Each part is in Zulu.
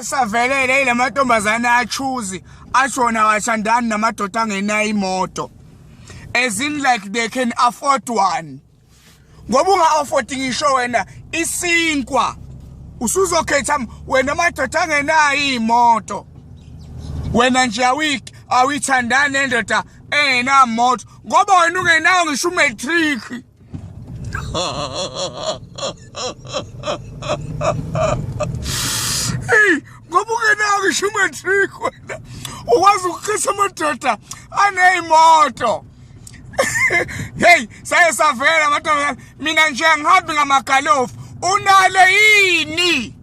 esavelele ile mantombazane achuzi ashona awashandani namadoda angenayo imoto as in like they can afford one ngoba unga-afford ngisho wena isinkwa usuzokhetha wena amadoda angenayo iy'moto wena nje awiki awuyithandani nendoda engenamoto ngoba wena ungenawo ngisho umatric hey ngoba ungenako isho umatric wena ukwazi ukuqisa amadoda aneyimoto hey saye savela amantombazane mina nje angihambi ngamagalofu unalo yini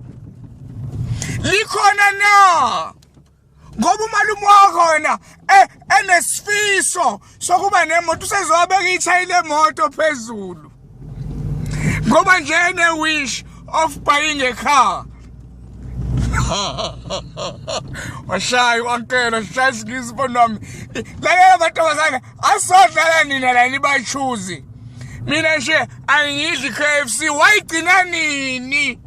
likhona na ngoba umalume wakho wena eh, enesifiso sokuba nemoto usezowabeka ithayi lemoto phezulu ngoba nje ene-wish of buying a car washayi wakelo shaya isilisa ubona wami lalela mantombazane asodlala nina la nibachuzi mina nje angiyidli i-k f c wayigcina nini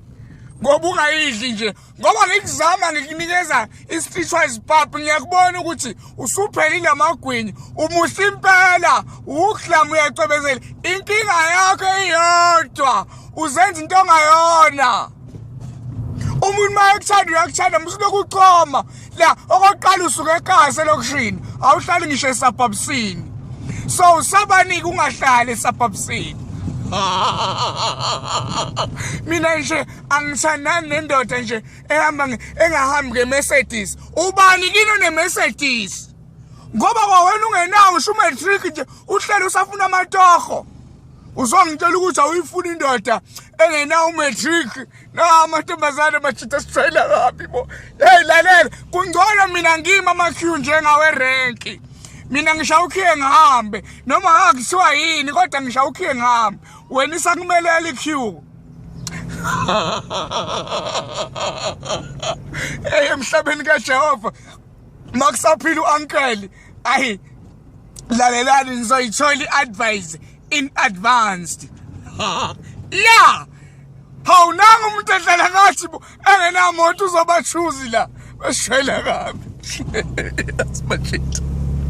ngoba ungayidli nje ngoba ngikuzama ngikunikeza i-stitchwise pap ngiyakubona ukuthi usuphelile amagwinyi umuhle impela uwuklamu uyacwebezela inkinga yakho iyodwa uzenza into ongayona umuntu uma ekuthanda uyakuthanda musuloku uchoma la okokuqala usuke ekase lokushini awuhlali ngisho esabhabusini so usabanike ungahlali esabhabusini mina nje angisandani nendoda nje ehamba engahambi ngeMercedes ubani kino neMercedes ngoba kwawena ungenawo usho umatric nje uhlele usafuna amatoho uzongitshela ukuthi awuyifuni indoda engenawo umatric na amantombazane majita sijwayela kabi bo yeyi lalela kungcono mina ngima amakhiwu njengawerenki mina ngisha ukhiye ngihambe noma ngakuthiwa yini kodwa ngisha ukhiye ngihambe wena isakumelela ikhiwu Hey emhlabeni kaJehova makusaphila uuncle ayi lalelani ngizoyithola iadvice in advanced yeah hawu nanga umuntu edlala ngathi bo engenamoto uzobachuzi la beshwela kabi yasimajita